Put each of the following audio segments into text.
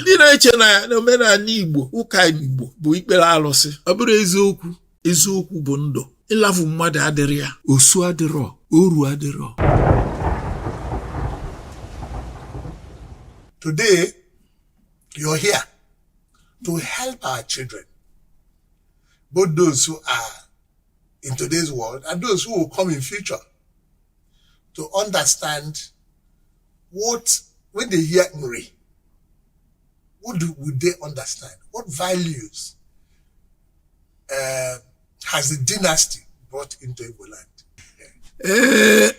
ndị na-eche na omenani igbo ụka igbo bụ ikpere alụsị ọ bụrọ eziokwu eziokwu bụ ndụ ịlafu mmadụ adịrị ya osu adịrọ oru adịrọ today you're here to help our children both those who are in today's world and those who will come in future to understand what when they hear Nri, what do, would they understand? What values uh, has the dynasty brought into Igbo land? Eh,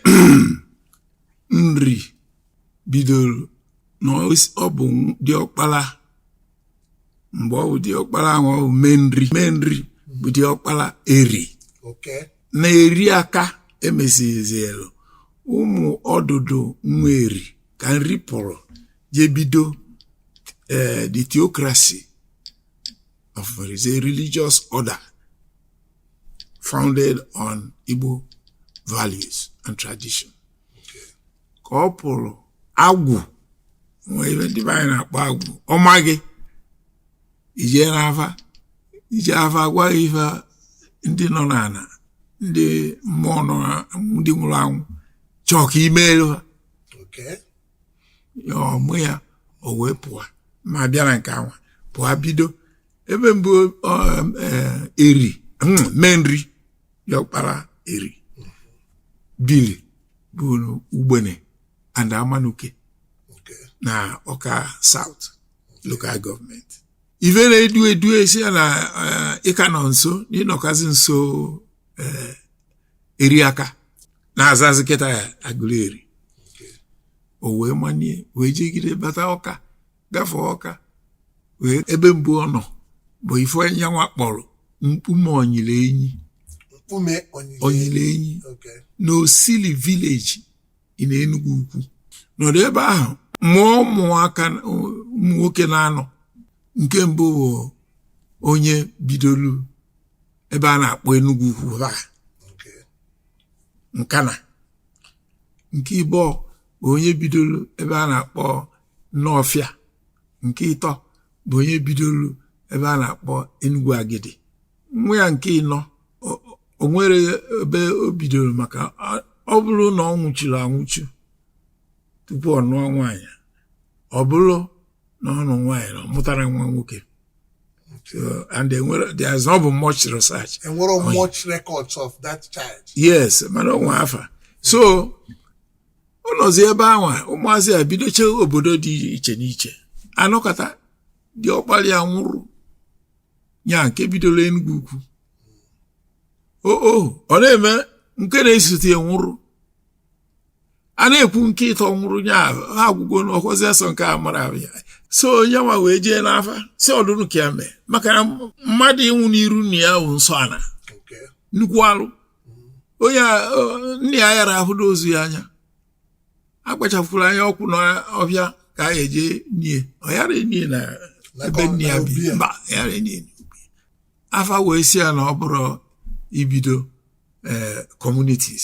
Nri bidoro na ọ bụ diọkpala mgbe ọ bụ diọkpala ahụ ọ bụ Menri Menri bụ diọkpala Eri Okay. na Eri aka emesizielu ụmụ ọdụdụ nwa eri ka nri pụrụ je bido eh, the theocracy of what is a religious order founded on Igbo values and tradition. ka ọ pụlụ agwụ nwee ife ndị be anyị na-akpọ agwụ ọ ma gị i jee n'afa i jee afa a gwa ya ife ndị nọ n'ana ndị mmụọ nọ na- ndị nwụlụ anwụ chọọ ka i meelu ha Okay. ya ọ mụ ya o wee pụọ ma bịa na nke anwa pụọ bido ebe mbụ ọ, eh, eri mm, Menri diọkpala eri bili bụ ugbene and amanuke na ọka south local government ivere edu edu esi ya na eh, ịka nọ nso na ịnọkazi nso eh, eri aka na-azazi kịta ya Aguleri o wee manie wee jegide bata ọka gafee ọka wee ebe mbụ ọ nọ bụ ife ya nwa kpọrọ mkpume onyile enyi mkpume onyile enyi na osili village na Enugu ukwu nọdụ ebe ahụ mụọ ụmụaka ụmụ nwoke na-anọ nke mbụ bụ onye bidolu ebe a na-akpọ Enugu ukwu ha nkana nke ịbụọ bụ onye bidolu ebe a na-akpọ Nọfịa nke ịtọ bụ onye bidolu ebe a na-akpọ Enugu Agidi nwa ya nke ịnọ o nwerọ ebe o bidolu maka ọ bụlụ na ọ nwụchuru anwụchu tupu ọ nụọ nwaanyị ọ bụlụ na ọ nụrụ nwaanyị na ọ mụtarọ nwa nwoke So, and they were, there has not been much research. And what are much records of that child? Yes, mana o nwe afa. So, ọ nọzi ebe ahụ ụmụazị a bidocha obodo dị iche n'iche a nọkata di ọkpara ya nwụrụ ya nke bidolu Enugu Ukwu oo ọ na-eme nke na-esote ya nwụrụ a na-ekwu nke ịtọ nwụrụ ya ha agwụgo n'ọkwazi asọ nke a mara ya so onye nwa wee jee n'afa sị ọdụrụ ka ya mee maka na mmadụ ịnwụ n'iru nna ya bụ nsọ ana nnukwu alụ onye nna ya ayara ahụ ozu ya anya akpachapụrụ anya ọkwụ n'ọhịa ka a ya-eje nie ọ yara nie na ebe nna ya bi mba ayara nie afa wee sị ya na ọ bụrụ ibido eh, communities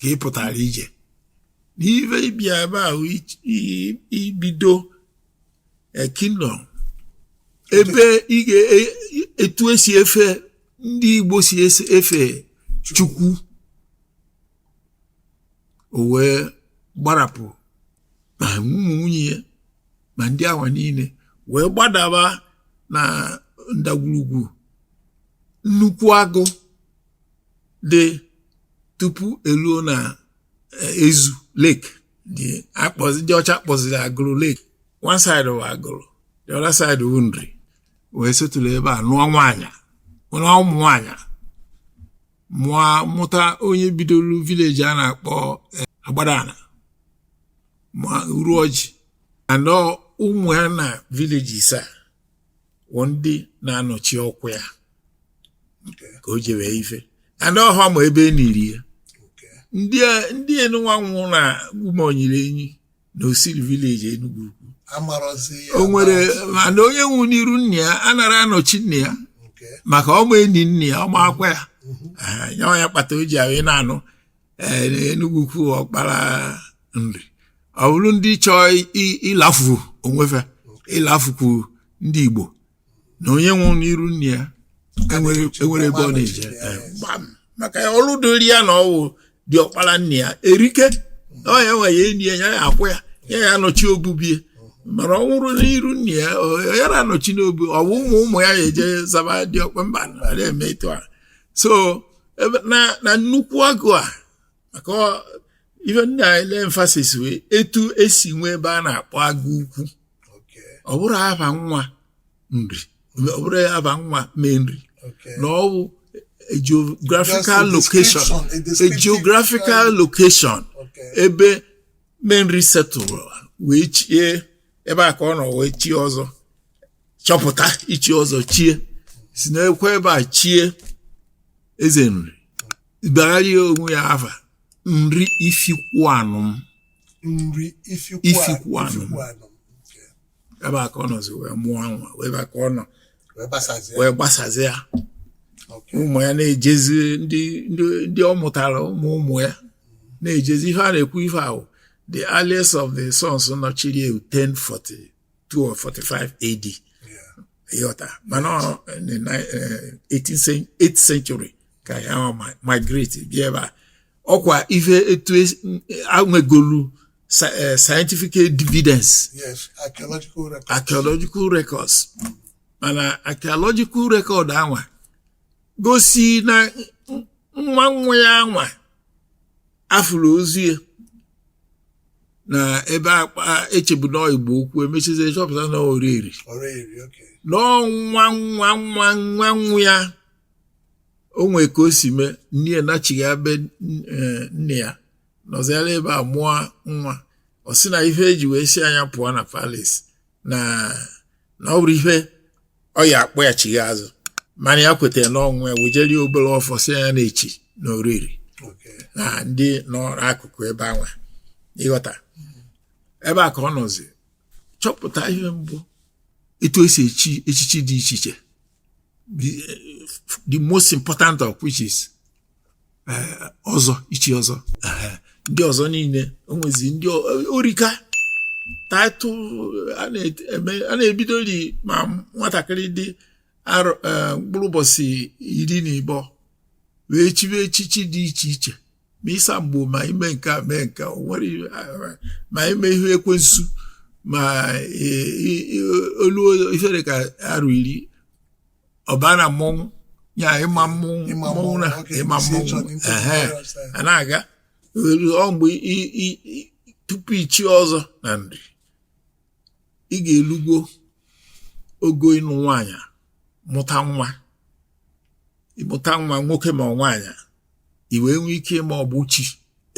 ka ị pụtara ije n'ive ịbịa ebe ahụ ibido eh, kingdom ebe ị ga- etu e, e e si efe ndị Igbo si efe Chukwu o wee gbarapụ ma ụmụ nwunye ya ma ndị awa niile wee gbadaba na ndagwurugwu nnukwu agụ dị tupu eluo na eh, Ezu lake ndị a kpọzi ndị ọcha kpọziri Agụlụ lake one side wụ Agụlụ the other side wụ Nri wee settle ebe a nụọ nwaanyị nụọ ụmụ nwaanyị mụọ mụta onye bidoro village a na-akpọ eh, Agbadana ma Uruọjị and ụmụ ya na villages a wụ ndị na-anọchi ọkwa ya ka o jewe ife and ọha ma ebe e niri ya ndị enụnwa nwụ na Nkpume Onyirienyi na Osili village Enugu Ukwu amarọzi ya o nwere na- mana onye nwụ n'iru nna ya anara anọchi nna ya nke maka ọ ma-eni nna ya ọ ma-akwa ya Ah, nya wụ ya kpata o ji awụ ị na-anụ eh, na Enugu Ukwu ọkpara Nri ọ bụrụ ndị chọọ i- ilafu onwe fe ilafukwu ndị Igbo na onye nwụrụ n'iru nna ya enwere enwere ebe ọ na-eje Eh, gbam maka na ọrụ dịrị ya na ọ wụ di ọkpara nna ya erike na ọ ya nwa ya-eni ya ya ya-akwa ya ya ya-anọchi obu be ya mana ọ nwụrụ n'iru nna ya ọ- yara anọchi n'obu ọ bụ ụmụ ụmụ ya ya-eje zaba di ọkpa mba na-eme etu a so ebe- na na nnukwu agụ a maka ọ- ife nna anyị lay emphasis wụ etu e si nwee ebe a na-akpọ Agụ Ukwu ọ bụrọ afa nwa Nri ọ bụrọ afa nwa Menri na ọ bụ a geographical location a geographical location ebe Menri settled wee chie ebe a ka ọ nọ wee chie ọzọ chọpụta ichi ọzọ chie si n'ekwe ebe a chie eze Nri bagharịa onwe ya afa Nri Ifikwuanịm Nri Ifikwuanịm ebe a ka ọ nọzi wee mụọ nwa wee ebe a ka ọ nọ wee gbasazie ya ụmụ ya na-ejezi ndị ọ mụtara ụmụ ụmụ ya na-ejezi ife a na-ekwu ife ahụ the earliest of the sons nọchiri 1040 2 or 45 AD ị ghọta mana ọ eh, na eh, 18th cen- 8th century ka ya ọ ma- migrate bịa ebe a ọkwa ife etu es- e nwegolu sci- eh, scientific evidence Yes, archaeological record. archaeological records mana archaeological record anwa gosi na nwa nwa ya anwa a fụrụ ozu ya na ebe akpa echebu na Igbo Ukwu emechizi chọpụta na Oreri na ọ nwa nwa nwa nwa nwa ya o nwee ka o si mee nne ya nachigha be eh, nne ya nọziara ebe a mụọ nwa ọ sị na ife e ji wee sị nya pụọ na palace na na ọ bụrọ ihe ọ ya akpọ ya chigha azụ mana ya kwetara na ọ nwa ya wejeri obere ọfọ sị ya na-echi na Oreri na ndị nọ n'akụkụ ebe anwa ị ghọta ebe a ka ọ nọzi chọpụta ihe mbụ etu e si echi echichi dị iche iche the, the most important of which is ọzọ ichi ọzọ ndị ọzọ niile o nwezi ndị o rika title a na-ebidori ma nwatakịrị dị e, mkpụrụ ụbọchị iri na ịbọ wee chibe echichi dị iche iche ma ịsa mgbo ma ime nke a mee nke nwere ma ime ihe ekwensu ma e, e, olu ifere ka arụ iri ọba na mmọnwụ ya ịma mmọnwụ Ịma mmọnwụ mmọnwụ, na okay, ịma isi ịchọ mmọnwụ n'ịtụ ehe virus, eh. a na-aga elu ọ mgbe i- i- i- tupu ichi ọzọ na Nri i ga-elugo ogo ịnụ nwaanyị a, mụta nwa ịmụta nwa nwoke ma nwaanyị i wee nwee ike ịma ọgbụ chi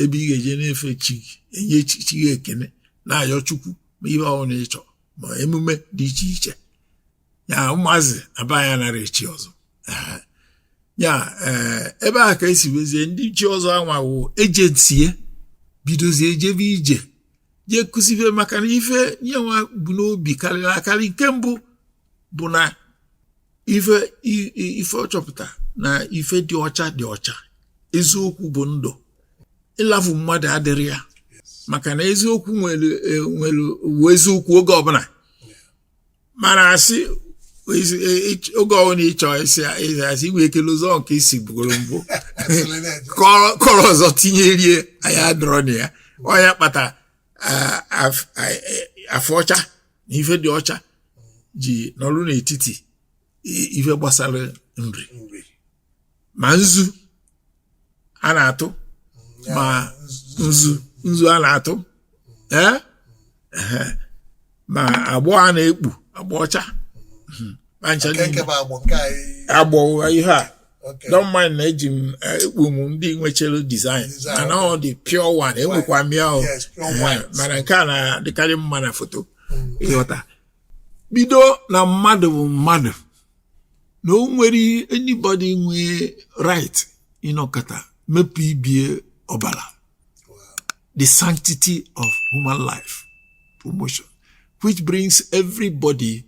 ebe ị ga-eje na-efe chi gị enye chi gị ekene na-ayọ Chukwu ma ihe ọbụla ị chọrọ ma emume dị iche iche ya ụmụazị na be anyị anara echi ọzọ ya eh, ebe a ka esi wezie ndị chi ọzọ anwa wụ agency bidozie ejebe ije jee kụzibe maka na ife nya nwa bu n'obi karịrị akarị nke mbụ bụ na ife ife ọ chọpụta na ife dị ọcha dị ọcha eziokwu bụ ndụ ịlafu mmadụ adịrọ ya maka na eziokwu nwere e, eziokwu oge ọbụla mana asị oge ọbụla ịchọ ịsị asị i nwe ike lozọ nke ị sịbugoro mbụ kọrọ ọzọ tinyerie anyị adịrọ na ya ọ ya kpata afọ ọcha na ife dị ọcha ji nọrụ n'etiti ife gbasara nri ma nzu a na-atụ ma nzu nzu a na-atụ ee ehe. ma agbọ a na-ekpu agbọ ọcha Mhm. ma ncha nke nke niile. bụ agbụ nke anyị agbọ ụgha ihe a Okay. don't mind na eji m eh, ekpu m ndị nwechara design Design, mana ọ dị pure one enwekwa m ya o Yes, pure Ehe, white. mana nke a na-adịkarị mma na foto ịghọta bido na mmadụ bụ mmadụ na o nwerọ anybody nwe right ịnọkata mepụ ibe ya ọbara the sanctity of human life promotion which brings everybody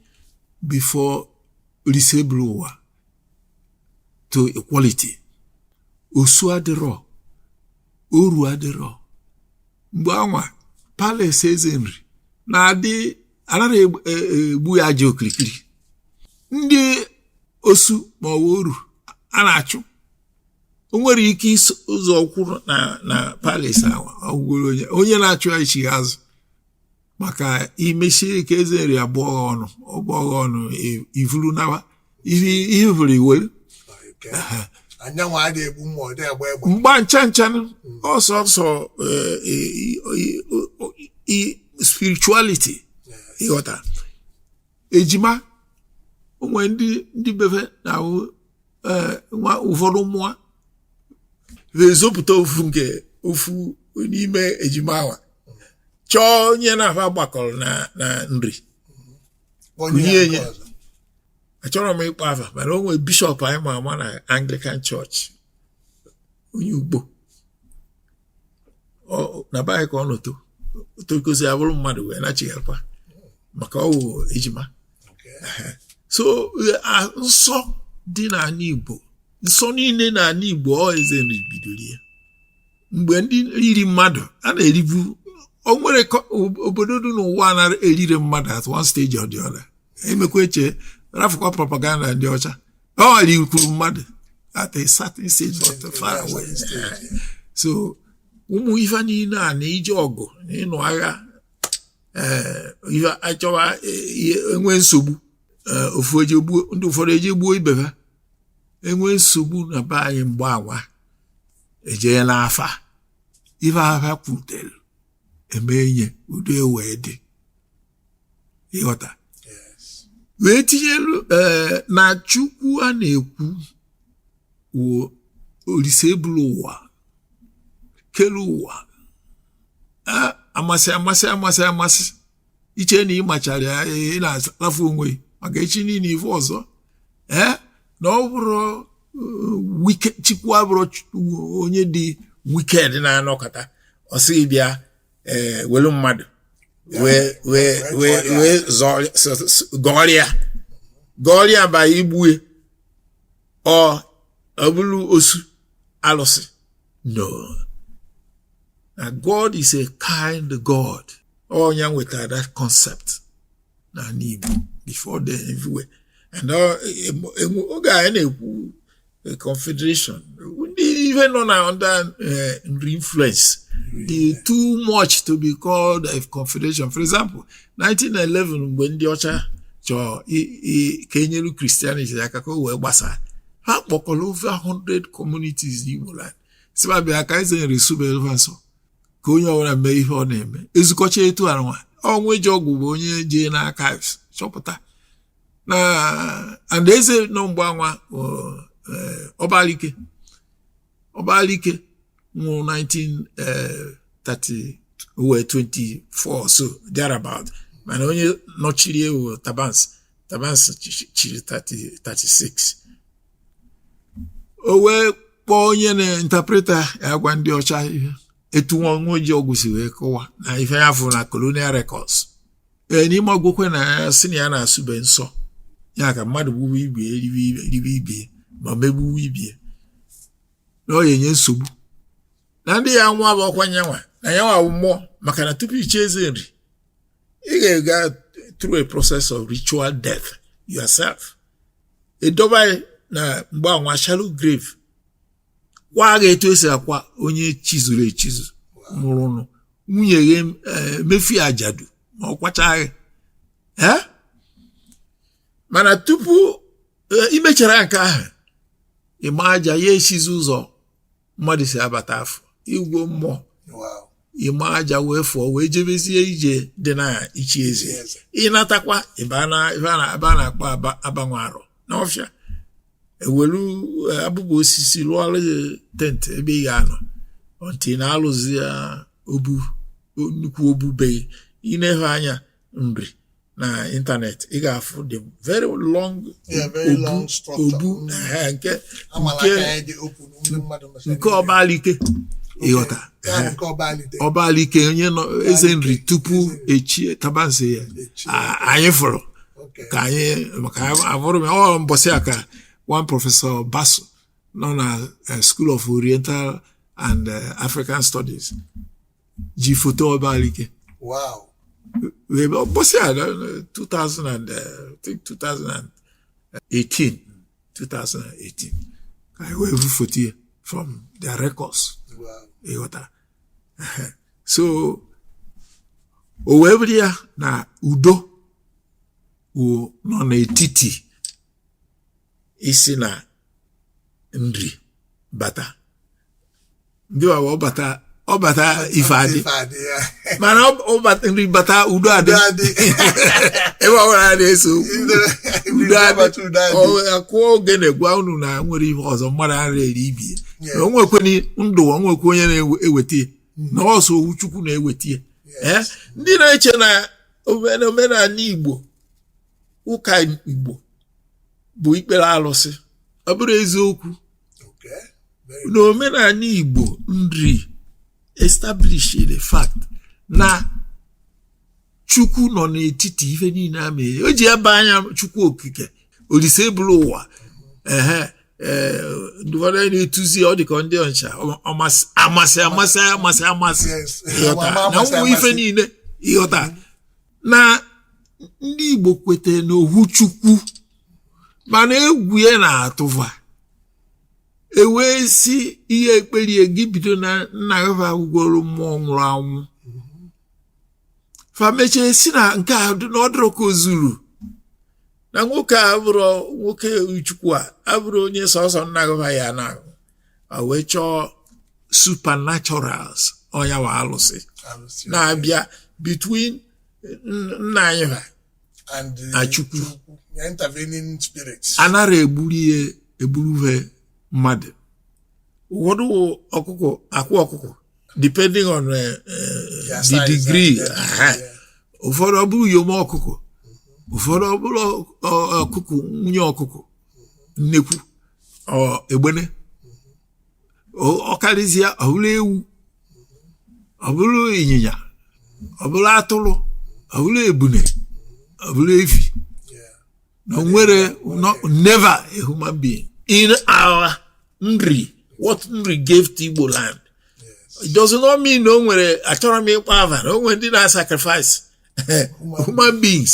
before Oriseburuwa to equality osu adịrọ oru adịrọ mgbe anwa palace eze nri na-adị anara egbu e, e, ya aja okirikiri ndị osu ma ọ wụ oru a na-achụ o nwere ike zọ ụkwụ na na palace awa ọ gwụgworo onye onye na-achụ ya echi azụ maka i mesie ike eze nri abụọ ọnụ ọ bụọ ghụ ọnụ e, i vuru nawa i i vuru i we anyị nwa adịghị egbu mma ọ dị agba egbe mba ncha ncha ọ sọọsọ eh, i- i- i- i- spirituality ịghọta ejima o nwe ndị ndị be fe na-awụ eh, nwa ụfọdụ mụọ na-ezopụta ofu nke ofu n'ime ejima awa chọọ onye na fa gbakọrọ na na nri Kụnye ya. achọrọ m ịkpọ afa mana o nwere bishop anyị ma ama na anglican church onye Ukpo Ọ- na be anyị ka ọ nọ to tokozi ya bụrụ mmadụ wee nachighakwa maka ọ wụ ejima so eh, ah, nsọ dị n'ala igbo nsọ niile n'ala igbo ọ eze nri bidoro ya mgbe ndị iri mmadụ a na-eribu o nwere obodo dị n'ụwa na-erire mmadụ at one stage or the other emekwa eche rafụkwa propaganda ndị ọcha wa rikwuru mmadụ at a certain stage not far away so ụmụ ife niile a na ije ọgụ na ịnụ agha eh, ife achọwa eh, enwe nsogbu eh, ofu ndị ụfọdụ ejee gbuo ibe ha enwe nsogbu na be anyị mgbe anwa ejee n'afa ife afa kwutere emee nye udo ewee dị ịghọta wee tinyelu ee na Chukwu a na-ekwu wụ Olise ebulu ụwa kelu ụwa a amasị amasị amasị amasị iche na ị machara ya ị na-alafu onwe gị maka echi niile ife ọzọ ee na ọ bụrọ uh, Chukwu abụrọ onye dị wicked na-anọkata ọ sị bịa eh, welu mmadụ wee gọrịa gọrịa ba igbue ọ bụrụ osu alụsị no na God is a kind God ọ nya wetara that concept n'ani Igbo before then everywhere and uh, oge anyị na-ekwu uh, confederation ndị ihe nọ na under uh, Nri influence dị too much to be called a confederation for example 1911 mgbe ndị ọcha chọọ ka enyelu Christianity aka ka o wee gbasaa ha kpọkọrọ over 100 communities n'Igbo land sị fa bịa ka eze Nri subelu fa nsọ ka onye ọbụla mee ife ọ na-eme ezukọcha etu anwa Ọnwụejeọgwụ bụ onye jee na archives chọpụta na and eze nọ mgbe anwa Ọbalike eh, Ọbalike nwụrụ 1930 ọ wụ 24 or so thereabout mana onye nọchiri ya wụ Tabansi Tabansi chiri 36 o wee kpọọ onye na-interpreta ya gwa ndị ọcha ihe etu Ọnwụejeọgwụ si wee kọwa na ife ya fụrụ na colonial records ee n'ime akwụkwọ ya na ya sị na ya na-asụbe nsọ ya ka mmadụ gbuwe ibie ribe ibie ma megbuwe ibie na ọ ya-enye nsogbu na ndị ya nwa bụ ọkwa nyanwa na ya nwa mmụọ maka na tupu ichi eze Nri ị ga-aga through a process of ritual death yourself edobe gị na mgbe anwa shallow grave kwaa gị etu esi akwa onye chizuru echizu nwụrụ nụ nwunye gị eh, mefi ajadu ma ọ kwacha gị Eh? mana tupu eh, imechara nke ahụ ịma aja ya echizi ọzọ mmadụ si abata afọ ịgọ mmụọ ịma aja wee fụọ wee jebezie ije dị na ichi eze ị natakwa ebe a na-akpọ abanwe arọ n'ọfịa e welu eh, abụbụ osisi lụọla gị tent ebe ị ga-anọ until na a lụzia obu nnukwu obu be gị i neve anya Nri na internet ị ga-afụ the very long obu nke nke Ọbalike ị ghọta Ọbalike onye nọ Eze Nri tupu e chie Tabansi ya anyị fụrụ ka anyị maka abụrụ m ọ mbọsị a ka one Professor Basu nọ na eh, School of Oriental and eh, African Studies ji foto Ọbalike wow wee bịa- mbọsị a na- na- 2000 and, eh, I think 2018 2018 ka anyị wee vụ foto ya from their records wow ị ghọta so o wee bụrụ ya na udo wụ nọ n'etiti isi na Nri bata ndị Wawa ọ bata ọ bata ife adị mma na ọ bata Nri bata udo adị ebe ọbụla a na-eso udo adị a kụọ ogene gwa unu na nwere ihe ọzọ mmadụ ara eri ibe ya na o nwekweni ndụ o nwekwe onye na-eweta ya na ọ sọ ohu Chukwu na-eweta ya ndị na-eche na omenani Igbo ụka Igbo bụ ikpere alụsị ọ bụrọ eziokwu na omenani Igbo Nri established the fact na Chukwu nọ n'etiti ife niile ya mere e ji aba ya Chukwu Okike Olise buru ụwa ehe eh, ndị ụfọdụ a na-etuzi ọ dịka ndị Ọnịcha amasị amasị amasị amasị na ụmụ ife niile ị ghọta na ndị Igbo kwete n'ohu Chukwu mana egwu ya na-atụ va e wee sị i ye-ekperi gị bido na nna gị va wụgoro mmụọ nwụrụ anwụ fa mechie sị na nke a na ọ dịrọ ka o zuru na nwoke a abụrọ nwoke Chukwu a abụrọ onye sọsọ nna gị va ya na wee chọọ supernaturals ọ nya wụ alụsị na-abịa between nna anyị ha na Chukwu anara egburu ihe egburu he mmadụ ụfọdụ ọkụkọ akwa ọkụkọ depending on uh, uh, the degree ụfọdụ ọ bụrụ uyom ọkụkọ ụfọdụ ọ bụrụ ọkụkọ nwunye ọkụkọ nnekwu egbene ọkarịsịa ọ bụrụ ewu ọ bụrụ ịnyịnya ọ bụrụ atụrụ ọ bụrụ ebune ọ bụrụ efi na nwere never a human being in our nri what nri gave to Igbo land it does not mean na o nwere achọrọ m ịkpọ ava na o nwere ndị na-sacrifice human beings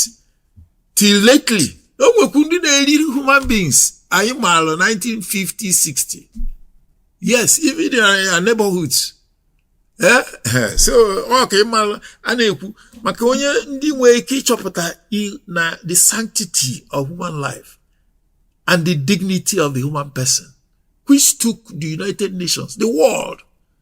till lately o nwekwu ndị na-eri human beings anyị maara 1950 60 yes even in our neighborhoods eh, eh, so ọ ka ị mara a na-ekwu maka onye ndị nwere ike ịchọpụta na the sanctity of human life and the dignity of the human person which took the United Nations, the world,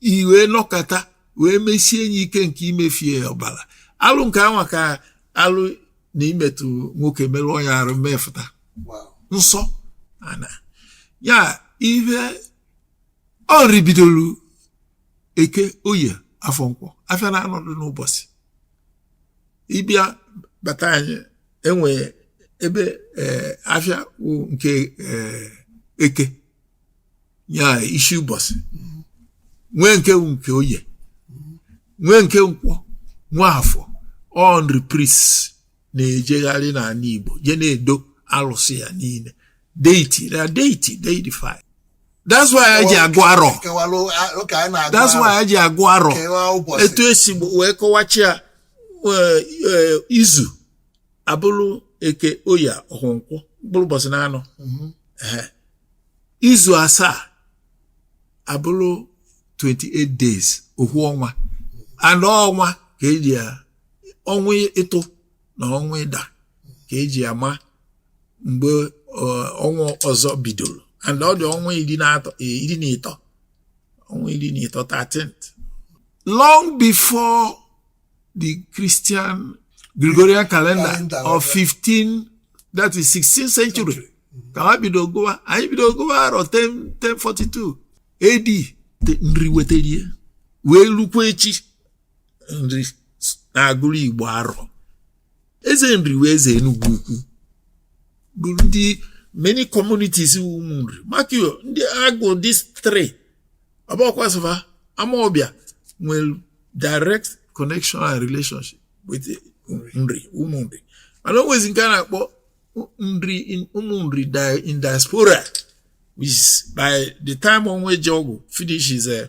i wee nọkọta wee mesie enyi ike nke imefie ọbara alụ nke anwa ka alụ na imetụ nwoke merụọ ya arụ mefụta nsọ ana ya ihe nri bidoro eke oye afọ nkwọ afịa na anọ dị n'ụbọchị ị bịa bata anyị enwe ebe eh, afịa nke eh, eke ya isi ụbọchị nwee nke nke oye nwee nke nkwọ nwee afọ nri priests na-ejegharị n'ala Igbo jee na-edo alụsị ya niile deity na deity deidify that's why anyị ji agụ arọ that's why anyị ji agụ arọ etu esi wee kọwachi ya e, e, izu abụrụ eke oye afọ nkwọ bụrụ ụbọchị na anọ mhm. izu asaa abụrụ 28 days ohu ọnwa and ọnwa ka e ji ya ọnwa ịtụ na ọnwa ịda ka e ji ama mgbe ọnwa ọzọ bidoro and ọ dị ọnwa iri na atọ e, iri na ịtọ ọnwa iri na ịtọ 13 long before the Christian Gregorian calendar, calendar of 15 that is 16th century ka ha bido gụwa anyị bido gụwa arọ 1042 AD nri wetarie wee lukwa echi nri na-agụrụ Igbo arọ eze nri wee eze enugwu ukwu bụ ndị many communities wu ụmụ nri maka yo ndị agụ these three ọbọkwasịfa amaọbịa nwere direct connection and relationship with nri ụmụ nri mana o nwezi nke a na-akpọ nri in- ụmụ nri di- in diaspora which is by the time Onwuejeogwu finish his eh,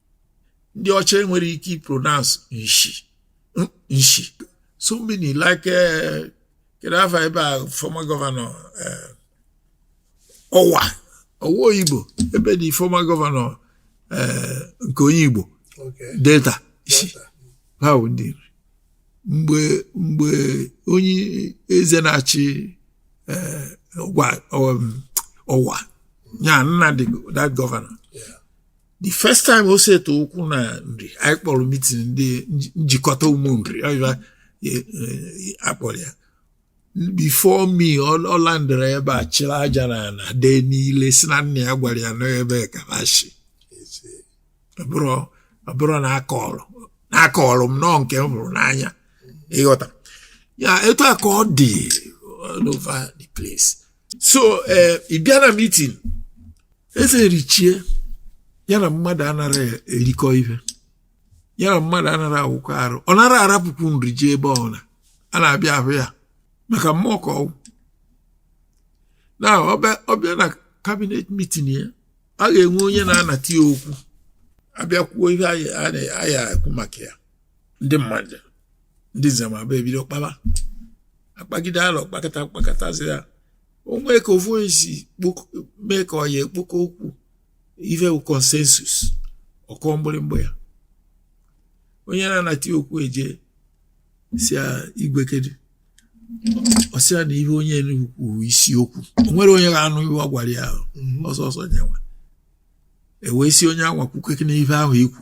ndị ọcha enwere ike ipronounce nshi nshi so many like eh, kedu afa ebe a former governor eh, ọwa ọwa oyibu ebe the former governor eh, nke onye igbo delta si ha bụ ndị nri mgbe mgbe onye eze na-achị ọwa nya na the that governor the first time o seta ụkwụ na nri anyị kpọrọ meeting ndị njikọta ụmụ nri e, e, akpọrọ ya before me ọ landịrị ebe a chịrị aja na ana dee n'ile si na nna ya gwara ya n'ebe a ka ha si ọ bụrọ na akọrọ na akọrọ m n'ọọ nke m hụrụ n'anya ị ghọta ya etu a ka ọ dị all over the place so eh, ị bịa na meeting eze erichie ya na mmadụ anara erikọ ife ya na mmadụ anara awụkọ arụ ọ nara arapụkwu nri je ebe ọna a na-abịa ahụ ya maka mmụọ ka ọ wụ na ọ bịa na cabinet meeting ya a ga-enwe onye na-anata ya okwu a bịa kwuo ife a ya-ekwu maka ya ndị mmadụ ndị nzemabụa ebido kpaba akpagide alọ kpakata kpakatazi ya o nwee ka ofu onye si kpok- mee ka ọ ya-ekpokọ okwu ife bụ consensus ọ kụọ mgbịrịmgba ya onye na-anata okwu eje si ya igwe kedu ọ sị ya na ihe onye Enugu kwuru isiokwu o nwere onye ga-anụ ihe ọ gwara ya ahụ ọ sọsọ onye nwa ewee si onye anwa kwukene ife ahụ i kwu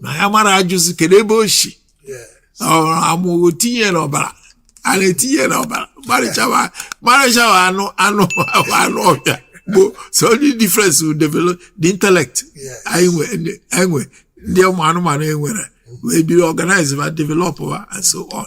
na ya mara ajụzi kedu ebe o si ọrụ amụghị tinye n'ọbara a na-etinye n'ọbara marịchawa marịchawa anụ anụ ahụ anụ ọbịa bụ so only difference will develop the intellect Yes. anyị nwe ndị- anyị nwe ndị ụmụ anụmanụ e nwere wee biri organize ma develop ha and so on